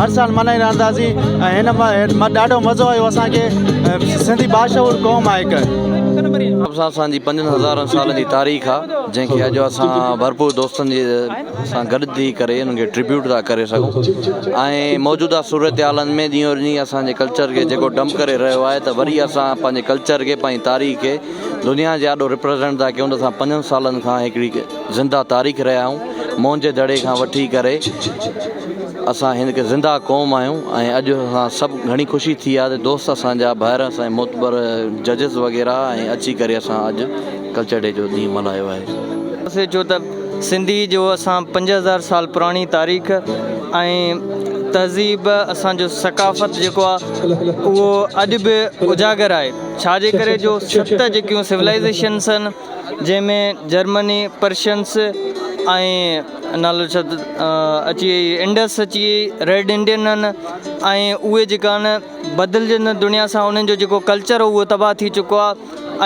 هر سال ملهائي رهندا سي ۽ هن مان ڏاڍو مزو آيو اسان کي سنڌي باشعور قوم آهي هڪ. نواب صاحب سان جي پنجن هزارن سالن جي تاريخ آ جنهن کي اڄ اسان ڀرپور دوستن جي سان گڏ ٿي ڪري انهن کي ٽريبيوٽ ٿا ڪري سگهون ۽ موجوده صورتحالن ۾ ڏينهون ڏينهن اسان جي ڪلچر کي جيڪو ڊمپ ڪري رهيو آهي ته وري اسان پنهنجي ڪلچر کي پنهنجي تاريخ کي دنيا جي آڏو ريپريزنٽ ٿا ڪيون ته اسان پنجن سالن کان هڪڙي زنده تاريخ رهيا آهيون موهنجي دڙي کان وٺي ڪري اسان هڪ زنده قوم آهيون ۽ اڄ اسان سڀ گهڻي خوشي ٿي آهي ته دوست اسان جا ڀائر اسان معتبر ججز وغيره ۽ اچي ڪري اسان اڄ ڪلچر ڊي جو ڏينهن ملهايو آهي. اسين چيو ته سنڌي جو اسان پنج هزار سال پراڻي تاريخ ۽ تهذيب اسان جو ثقافت جيڪو آ اهو اڄ به اجاگر آهي ڇا جي ڪري جو ست جيڪيون سولائيزيشنس آهن جنهن ۾ جرمني، پرشنس ۽ انڊس اچي وئي، ريڊ انڊين ۽ اهي جيڪا آهن بدلجندڙ دنيا سان انهن جو جيڪو ڪلچر هو اهو تباهه ٿي چڪو آهي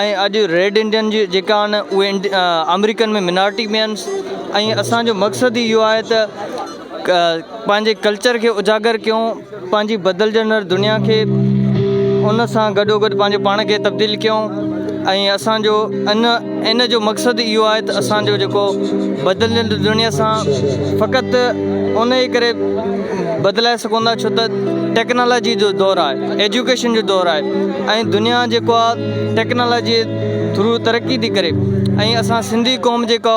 ۽ اڄ ريڊ انڊين جي جيڪا آهن اهي آمريڪن ۾ منارٽي ۾ آهن ۽ اسانجو مقصد اهو آهي ته پنهنجي ڪلچر کي اجاگر ڪيون پنهنجي بدلجندڙ دنيا کي ان سان گڏو گڏ پنهنجو پاڻ کي تبديل ڪيون ۽ اسانجو ان ان جو مقصد اهو آهي ته اسانجو جيڪو بدلجندڙ دنيا سان فقط ان جي ڪري بدلائي سگهون ٿا ڇو ته ٽيڪنالاجي جو دور آهي ايجوڪيشن جو دور آهي ۽ دنيا جيڪو آهي ٽيڪنالاجي ٿرو ترقي ٿي ڪري ۽ اسان سنڌي قوم جيڪا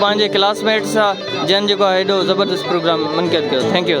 پنهنجي ڪلاس ميٽس سان جن جيڪو آهي ايڏو زبردست پروگرام منقعد ڪيو ٿينڪ يو